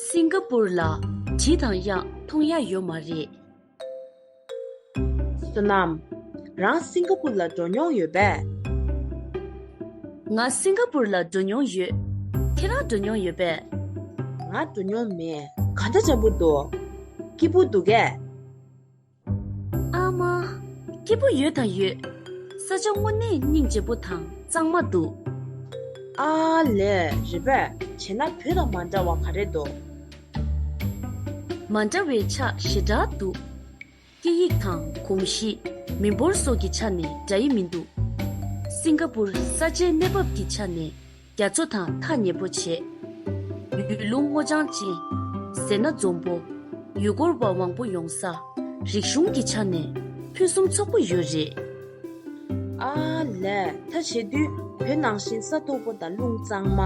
སིང་ག་པུར་ལ་བྲིས་དང་དབྱངས་མཐོང་ཡ་ཡོད་མ་རེད། བསོད་ནམས། རང་སིང་ག་པུར་ལ་འགྲོ་མྱོང་ཡོད་པས། ང་སིང་ག་པུར་ལ་འགྲོ་མྱོང་ཡོད། ཁྱེད་རང་འགྲོ་མྱོང་ཡོད་པས། ང་འགྲོ་མྱོང་མེད། ག་འདྲ་བྱ་འབུར་འདུག། སྐྱིད་པོ་འདུག་གས། ཨ་མ། སྐྱིད་པོ་ཡོད་དང་ཡོད། ས་ཆ་དངོས་གནས་སྙིང་རྗེ་པོ་དང་གཙང་མ་འདུག། ཨ་ལས། རེ་བས་བྱས་ན་བུ་དང་མ་འདྲ་བ་ག་རེ་འདུག། མ་འདྲ་བའི་ཆ་ཞེ་དྲག་འདུག། སྐད་ཡིག་དང་གོམས་གཤིས། མི་འབོར་སོགས་ཀྱི་ཆ་ནས་འདྲ་ཡི་མི་འདུག། སིང་ག་པུར་ས་ཆའི་གནས་བབ་ཀྱི་ཆ་ནས་རྒྱ་མཚོ་དང་ཐག་ཉེ་པོ་བྱས། ཡུལ་ལུང་སྔོ་ལྗང་ཅན། ཟེར་ན་འཛོམས་པོ། ཡུལ་སྐོར་བ་མང་པོ་ཡོང་ས། རིག་གཞུང་གི་ཆ་ནས་ཕུན་སུམ་ཚོགས་པོ་ཡོད་རེད། ཨ་ལས་ཐ་བྱེད་དུས་བོད་ནང་བཞིན་ས་མཐོ་པོ་དང་ཀླུང་གཙང་མ།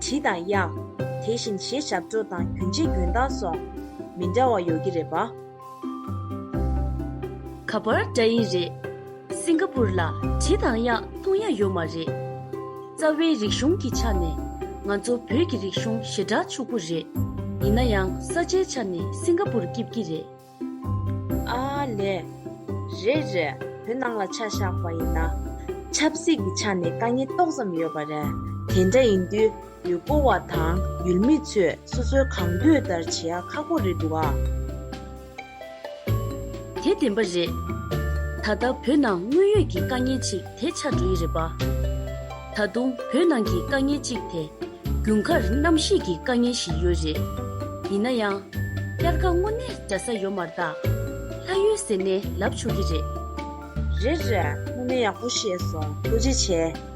དྲི་དང་གཡག། དེ་བཞིན་གཞས་ཞབས་བྲོ་དང་གྱོན་ཆས་གྱོན་སྟངས་སོགས་མི་འདྲ་བ་ཡོད་ཀྱི་རེད་པ། ག་པར་འདྲ་ཡི་རེད། སིང་ག་པུར་ལ་དྲི་དང་ཡག་མཐོང་ཡ་ཡོད་མ་རེད། རྩ་བའི་རིག་གཞུང་གི་ཆ་ནས་ང་ཚོ་བོད་ཀྱི་རིག་གཞུང་ཞེ་དྲག་ཕྱུག་པོ་རེད། ཡིན་ན་ཡང་ས་ཆའི་ཆ་ནས་སིང་ག་པུར་སྐྱིབས་ཀྱི་རེད། ཨ་ལེ། རེད་རེད་བོད་ནང་ལ་ཆ་བཞག་པ་ཡིན་ན། ཆབ་སྲིད་ཀྱི་ཆ་ནས་དཀའ་ངལ་ཏོག་ཙམ་ཡོད་པ་རེད། དེ་འདྲ་ཡིན་དུས། ཡུལ་སྤོ་བ་དང་ཡུལ་མི་ཚོས་སོ་སོའི་གང་འདོད་ལྟར་བྱེད་ཡ་ཁག་པོ་རེད་འདུག་ཨ། དེ་བདེན་པ་རེད། ད་ལྟ་བོད་ནང་དངོས་ཡོད་ཀྱི་དཀའ་ངལ་ཅིག་དེ་ཆགས་འགྲོ་ཡི་རེད་པ། ད་དུང་བོད་ནང་གི་དཀའ་ངལ་ཅིག་དེ། རྒྱུན་ཁར་གནམ་གཤིས་ཀྱི་དཀའ་ངལ་ཞིག་ཡོད་རེད། ཡིན་ན་ཡང། སྐྱར་ཁ་སྔོ་ནས་འདྲ་ས་ཡོད་མར་ད། ལྷ་ཡོད་ཟེར་ནས་ལབ་ཆོག་གི་རེད། རེད་རེད། སྔོ་ནས་ཡག་པོ་བཤད་སོང་རྡོ་རྗེ་བྱེད།